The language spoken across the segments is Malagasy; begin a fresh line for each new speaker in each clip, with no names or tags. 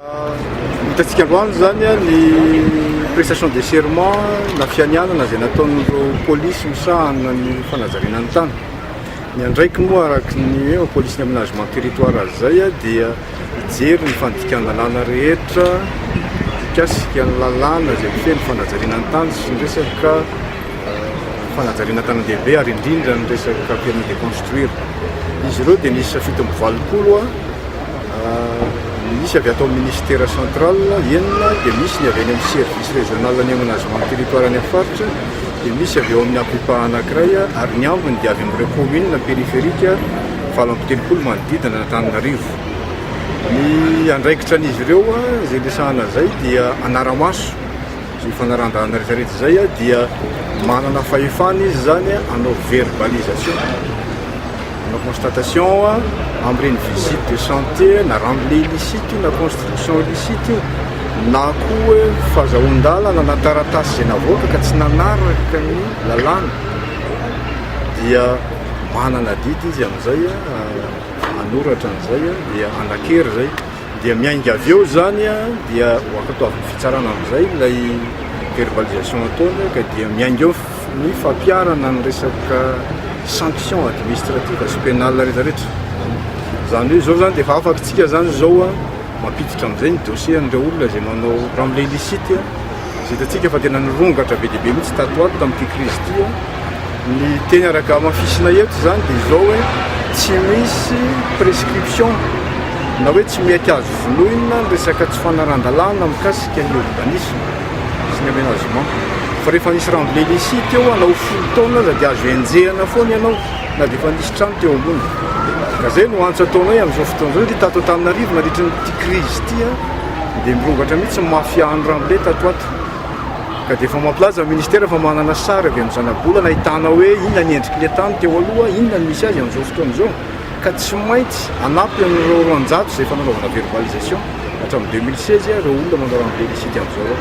Hitantsika androany izany ny prestation de serment na fianianana izay nataon'ireo polisy misahana ny fanajariana ny tany. Ny andraikiny moa araka ny hoe polisy ny aménagement territoire azy izay dia hijery ny fandikan-dalàna rehetra mikasika ny lalàna izay mifehy ny fanajariana ny tany sy ny resaka fanajariana tanan-dehibe ary indrindra ny resaka permis de construire. Izy ireo dia nisy fito amby valopolo Misy avy ato amin'ny Ministera central enina, dia misy ny avy any amin'ny Service Régional ny Aménagement du Territoire any amin'ny Faritra, dia misy avy ao amin'ny Apipa anankiray ary ny ambiny dia avy amin'ireo Communes périphériques valo amby telopolo manodidina an'Antananarivo. Ny andraikitran'izy ireo izay resahana izay dia hanara-maso. Izany fanarahan-dalana rehetra rehetra izay dia manana fahefana izy izany hanao verbalisation, hanao constatation amin'ireny visite de chantier na rambile illicite io na construction illicite io na koa fahazahoan-dalana na taratasy izay navoaka ka tsy nanaraka ny lalàna dia manana adidy izy amin'izay hanoratra an'izay dia hanan-kery izay. Dia miainga avy eo izany dia ho ankatoavin'ny fitsarana amin'izay ilay verbalisation ataony ka dia miainga eo ny fampiharana ny resaka sanction administrative sy pénale rehetra rehetra. Izany hoe izao izany dia efa afatsika izany izao mampiditra amin'izay ny dossier an'ireo olona izay manao ramble illicite. Izay hitantsika fa tena nirongatra be dia be mihitsy tato ho ato tamin'ity krizy ity. Ny teny araka hamafisina eto izany dia izao hoe tsy misy prescription na hoe tsy mety azo vonoina ny resaka tsy fanarahan-dalàna mikasika ny urbanisme sy ny aménagement. Fa rehefa nisy renblai nisy teo hanao folo taona aza dia azo enjehina foana ianao na dia efa nisy trano teo ambony. Ka izay no antso ataonay amin'izao fotoana izao satria tato Antananarivo nandritry ny ity krizy ity Dia mirongatra mihitsy ny mafia Anrambe tato ato. Ka dia efa mampilaza ny ministera fa manana sary avy amin'ny zanabolana ahitana hoe inona ny endriky ilay tany teo aloha, inona ny misy azy amin'izao fotoana izao. Ka tsy maintsy hanampy an'ireo roanjato izay efa nanaovana verbalisation hatramin'ny deux mille seize ireo olona manao ramble illicite amin'izao ireo.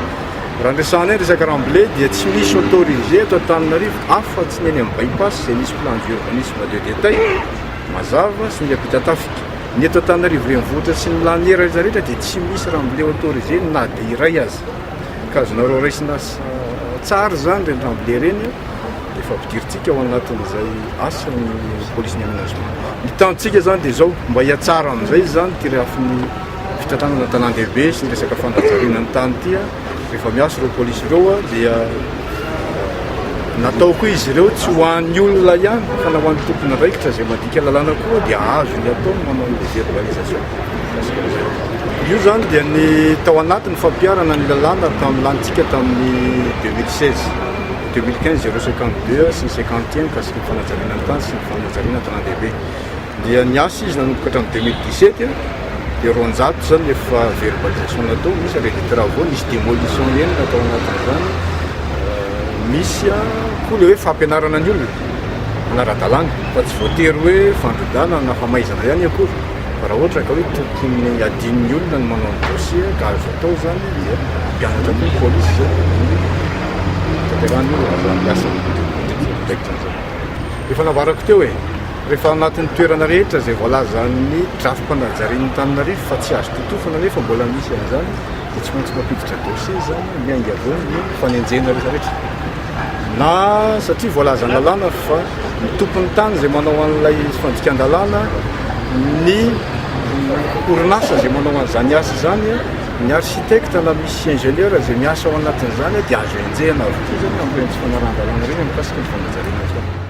Raha ny resahanay ny resaka ramble dia tsy misy autorisé eto Antananarivo afa-tsy ny eny amin'ny By-pass izay misy plan d'urbanisme de détail mazava sy miampita tafika. Ny eto Antananarivo Renivohitra sy ny Laniera rehetra rehetra dia tsy misy ramboleo autorisé na dia iray aza. Ka azonareo raisina tsara izany ireny ramboleo ireny dia efa ampidirintsika ao anatin'izay asa ny police ny aménagement. Ny tanjontsika izany dia izao mba hihatsara amin'izay izany ity rehafin'ny fitantanana an-tanàn-dehibe sy ny resaka fanajariana ny tany ity. Rehefa miasa ireo polisy ireo dia natao koa izy ireo tsy ho an'ny olona ihany fa na ho an'ny tompon'andraikitra izay mandika lalàna koa dia azony atao ny manao ny désorganisation. Io izany dia ny tao anatin'ny fampiharana ny lalàna tamin'ny lanintsika tamin'ny 2016 2015 052 sy ny 51 mikasika ny fanajariana ny tany sy ny fanajariana an-tanàn-dehibe. Dia niasa izy nanomboka hatramin'ny deux mille dix-sept dia roanjato izany ny efa verbalisation natao, misy arret de travaux, nisy demolition enina tao anatin'izany, misy koa ilay hoe fampianarana ny olona hanara-dalàna fa tsy voatery hoe fandrodana na famaizana ihany akory fa raha ohatra ka hoe tokony hadinon'ny olona ny manao ny dossier ka azo atao izany dia hampianatra koa ny polisy izay ny fitanterahan'ny olona fa ny asan'ny tompon'ny tompon'andraikitra izay efa navarako teo e! Rehefa ao anatin'ny toerana rehetra izay voalazan'ny drafi-panajarian'Antananarivo fa tsy azo totofana nefa mbola misy an'izany dia tsy maintsy mampiditra dossier izany miainga avoa ny fanenjehana rehetra rehetra. Na satria voalazan'ny lalàna fa ny tompon'ny tany izay manao an'ilay fandikan-dalàna, ny orinasa izay manao an'izany asa izany, ny architecte na misy ingénieur izay miasa ao anatin'izany dia azo enjehina avokoa izany amin'ireny tsy fanarahan-dalàna ireny mikasika ny fanajariana izany.